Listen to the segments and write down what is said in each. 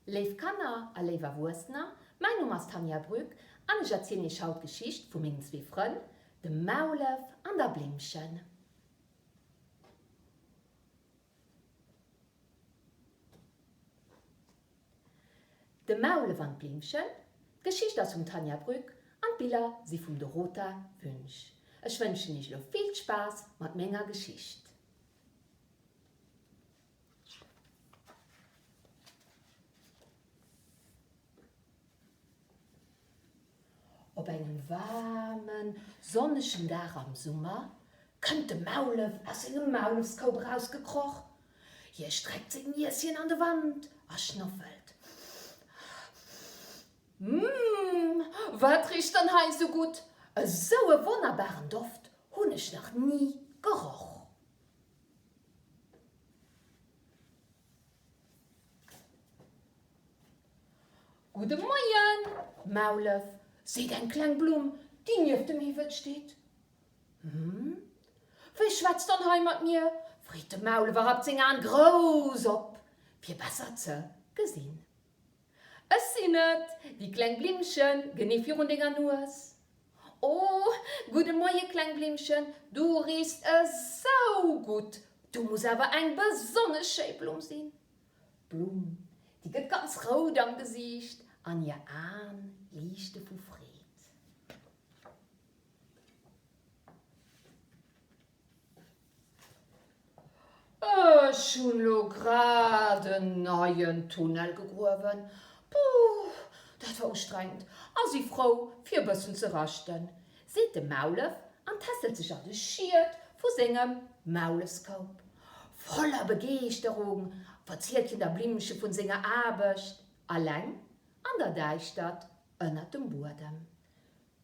Léif Kanner a léif Erwuessener, mäin Numm ass Tanja Brück an ech erzielen iech haut d'Geschicht vu mengen zwee Frënn, dem Maulef an der Blimmchen. De Maulef an d'Blimmchen D'Geschicht ass vum Tanja Brück an d'Biller si vum Dorota Wünsch. Ech wënschen iech elo vill Spaass mat menger Geschicht. Op engem waarmen, sonnegen Dag am Summer kënnt de Maulef aus sengem Maulefskoup erausgekroch. Hie streckt seng Nieschen an de Wand a schnoffelt, Mmm, wat richt dann hei esou gutt? Esou e wonnerbaren Doft hunn ech nach ni geroch! Gudde Moien, Maulef, seet eng kleng Blumm, déi nieft dem Hiwwel steet. Hm, wie schwätzt dann hei mat mir? freet de Maulef a rappt seng Aen grouss op, fir besser ze gesinn. Ech sinn et, déi kleng Blimmchen, genee virun denger Nues. O, gudde Moie, kleng Blimmchen, du riechst esou gutt, du muss awer eng besonnesch schéi Blumm sinn. D'Blumm, déi gëtt ganz rout am Gesiicht an hir Aen liichte vu Freed. Ech hunn lo grad en neien Tunnel gegruewen. Puuh, dat war ustrengend a si frou fir e bëssen ze raschten, seet de Maulef an tässelt sech an de Schiet vu sengem Maulefskoup. Voller Begeeschterung verzielt hien der Blimmche vun senger Aarbecht, eleng an der Däischtert ënnert dem Buedem.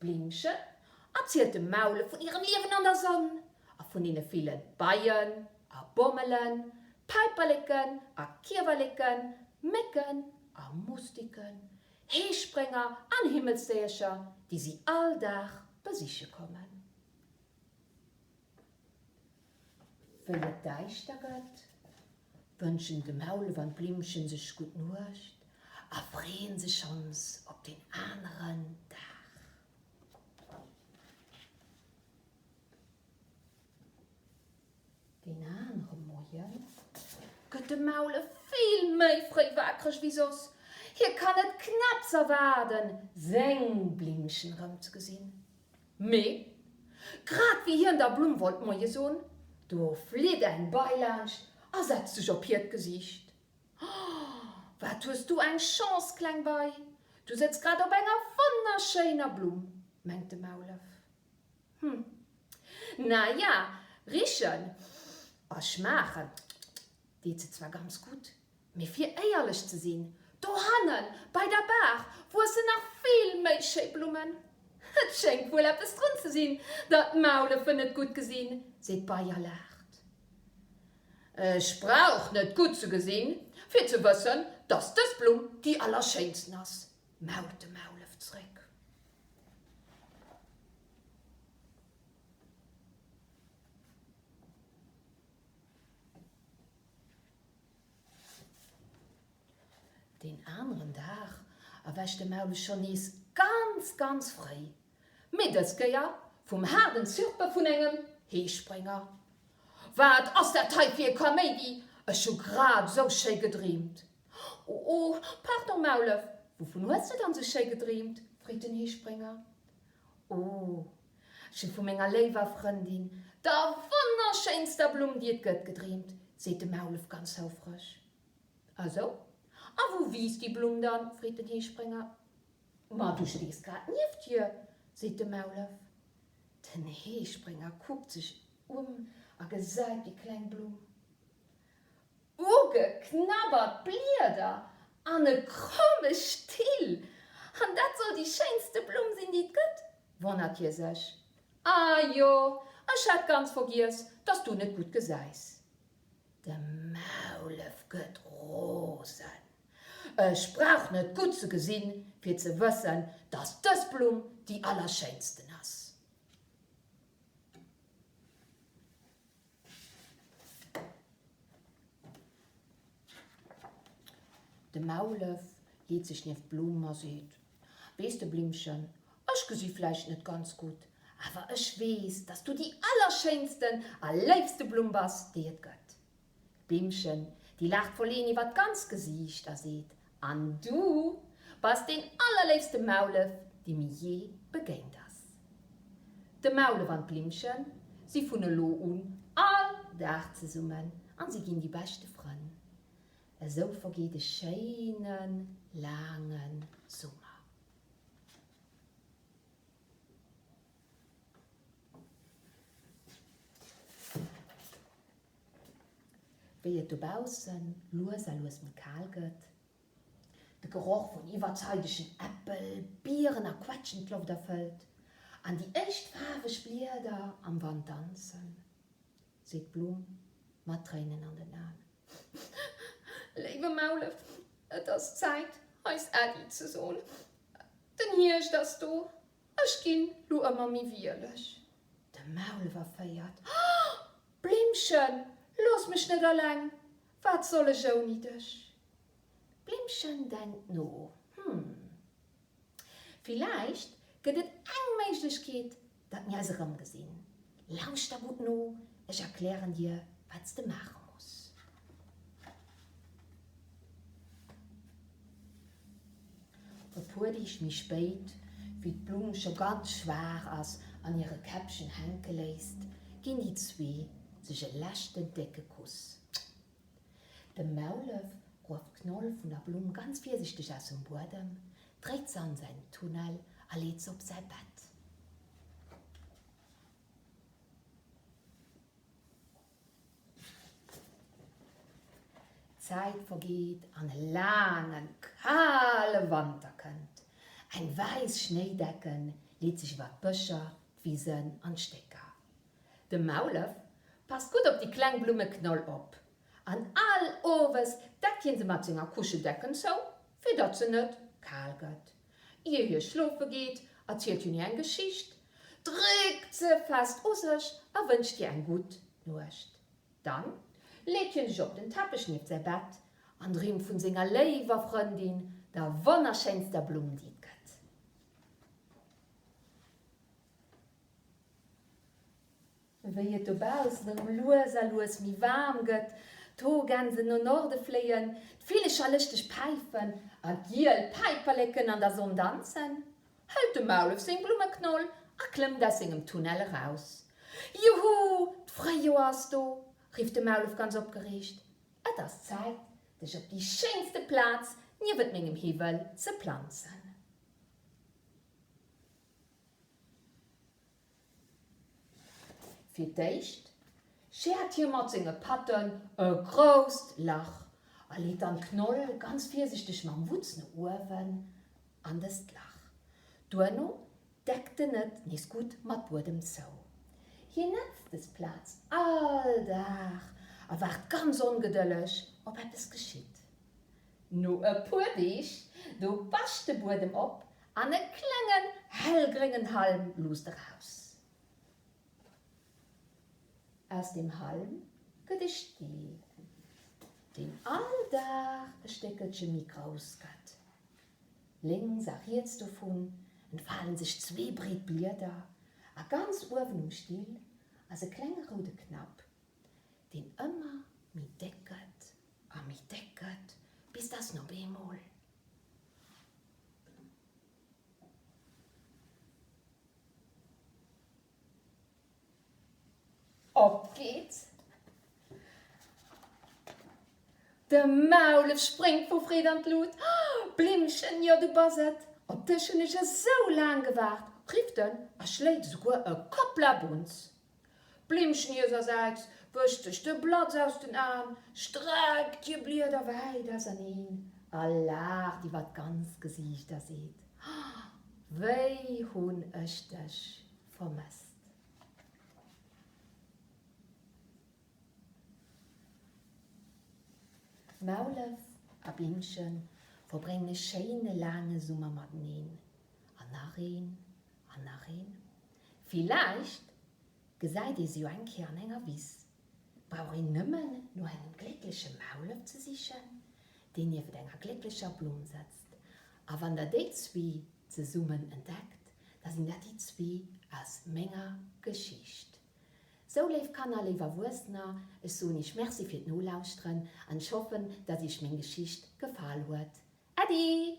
D'Blümchen erzielt dem Maule vun hirem Liewen an der Sonn a vun deene ville Beien a Bommelen, Päiperleken a Kiewerleken, Mécken a Mustiken, Heesprénger an Himmelsdéiercher, déi si all Dag besiche kommen. Wéi et däischter gëtt, wënschen de Maulef an d'Blimmche sech gutt Nuecht a freeën sech schonns op den aneren Dag. Deen anere Moie gëtt de Maulef vill méi fréi waakreg wéi soss. Hie kann et knapps erwaarden, seng Blimmchen erëm ze gesinn. Mee, grad wéi hien der Blumm wollt Moie soen, do flitt eng Bei laanscht a setzt sech op hiert Gesiicht. Oh, wat hues du eng Chance, kleng Bei, du sëtz grad op enger wonnerschéiner Blumm, mengt de Maulef. Hm, na ja, richen a schmaachen deet se zwar ganz gutt, Mee fir éierlech ze sinn, dohannen bei der Baach wuessen nach vill méi schéi Blummen. Et schéngt wuel eppes drun ze sinn, datt d'Maulefen et gutt gesinn, seet d'Bei a laacht. Ech brauch net gutt ze gesinn, fir ze wëssen, datt dës Blumm déi allerschéinsten ass, mault de Maulef zréck. Deen aneren Dag erwächt de Maule schonn nees ganz, ganz fréi, mee dës Kéier vum haarden Zirpe vun engem Heesprénger. Wat ass dat hei fir e Kaméidi? Ech hu grad esou schéi gedreemt! O, pardon, Maulef, wouvun hues de dann esou schéi gedreemt? freet den Heesprénger. O, Ech hu vu menger léiwer Frëndin, der wonnerschéinster Blumm, déi et gëtt, gedreemt, seet de Maulef ganz houfreg. A sou? A wou wiisst déi Blumm dann? freet den Heesprénger. Ma du stees grad nieft hir, seet de Maulef. Den Heesprénger kuckt sech ëm a gesäit déi kleng Blumm. Ugeknabbert Blieder an e kromme Still! An dat soll déi schéinste Blumm sinn, déi et gëtt? Wonnert hie sech, Ah jo, ech hat ganz vergiess, dass du net gutt gesäis. De Maulef gëtt rosen, Ech brauch net gutt ze gesinn, fir ze wëssen, dass dës Blumm déi allerschéinsten ass. De Maulef leet sech nieft d'Blumen a seet, Weess de, Blimmchen, ech gesi vläicht net ganz gutt, awer ech weess, dass du déi allerschéinsten a léifste Blumm bass, déi et gëtt. D'Blimmchen, déi laacht Foleen iwwert d'ganzt Gesiicht a seet, An du bass deen allerléifste Maulef, dee mir je begéint ass. De Maulef an d'Blimmche si vun elo un all Dag zesummen an si ginn déi beschte Frënn. Esou vergeet e schéine laange Summer. Wéi et dobausse lues a lues méi kal gëtt, de Geroch vun iwwerzeidegen Äppel, Bieren a Quetschen d'Loft erfëllt an déi éischt faarweg Blieder am Wand danzen, seet d'Blumm mat Tréinen an den Aen, Léiwe Maulef, et ass Zäit, eis Äddi ze soen. Den Hierscht ass do, ech ginn lo ëmmer méi wieleg. De Maulef erféiert, Blimmchen, looss mech net aleng, wat soll ech ouni dech? D'Blimmchen denkt no, Hm, villäicht gëtt et eng Méiglechkeet, datt mir eis erëmgesinn. Lauschter gutt no, ech erklären dir, wat s de maache muss. E puer Deeg méi spéit, wéi d'Blumm scho ganz schwaach ass an hire Käppchen hänke léisst, ginn déi zwee sech e leschten décke Kuss. De Maulef grueft d'Knoll vun der Blumm ganz virsichteg aus dem Buedem, dréit se an säin Tunnel a leet se op säi Bett. D'Zäit vergeet an e laangen, kale Wanter kënnt. Eng wäiss Schnéidecke leet sech iwwer d'Bëscher, d'Wisen an d'Stécker. De Maulef passt gutt op déi kleng Blummeknoll op an all Owes deckt hie se mat senger Kuscheldecken zou, fir datt se net kal gëtt. Ier hie schlofe geet, erzielt hien hir eng Geschicht, dréckt se fest u sech a wënscht hir eng gutt Nuecht. Dann leet hien sech op den Teppech nieft säi Bett an dreemt vun senger léiwer Frëndin, der wonnerschéinster Blumm, déi et gëtt. Wéi et dobaussen erëm lues a lues méi waarm gëtt, d'Hoergänsen no Norde fléien, d'Villecher lëschteg päifen a giel Päiperleken an der Sonn danzen, hält de Maulef seng Blummeknoll a klëmmt aus sengem Tunnel eraus. Juhu, d'Fréijoer ass do! rifft de Maulef ganz opgereegt. Et ass Zäit, dech op déi schéinste Plaz niewent mengem Hiwwel ze planzen. Fir d'éischt schäert hie mat senge Patten e grousst Lach a leet dann d'Knoll ganz virsichteg mam Wutz no uewen an dëst Lach. Duerno deckt en et nees gutt mat Buedem zou. Hien netzt des Plaz all Dag a waart ganz ongedëlleg, ob eppes geschitt. No e puer Deeg, do bäscht de Buedem op an e klengen hellgréngen Halm luusst eraus. Aus deem Halm gëtt e Stee, deen all Dag e Stéckelche méi grouss gëtt. Lénks a riets dovun entfalen sech zwee breet Blieder a ganz uewen um Still ass e klenge roude Knapp, deen ëmmer méi déck gëtt a méi déck gëtt, bis dass en op eemol. Opgeet. De Maulef spréngt vu Freed an d'Lut. Blimmchen, jo du bass et! Op dech hunn ech esou laang gewaart! rifft en a schléit esouguer e Kopplabunz. D'Blimmchen hirsersäits wëscht sech de Blatz aus den Aen, streckt hir Blieder wäit auserneen a laacht iwwer d'ganz Gesiicht a seet, Wéi hunn ech dech vermësst! Maulef a Blimmche verbréngen e schéine laange Summer mateneen, an nach een, an nach een. Villäicht gesäit ee se jo eng Kéier an enger Wiss. Brauch een nëmmen no engem gléckleche Maulef ze sichen, deen niewent enger glécklecher Blumm sëtzt. A wann der déi zwee zesummen entdeckt, da sinn dat déi zwee aus menger Geschicht. Sou, léif Kanner, léif Erwuessener, ech soen iech Merci fir d'Nolauschteren an ech hoffen, datt iech meng Geschicht gefall huet. Äddi!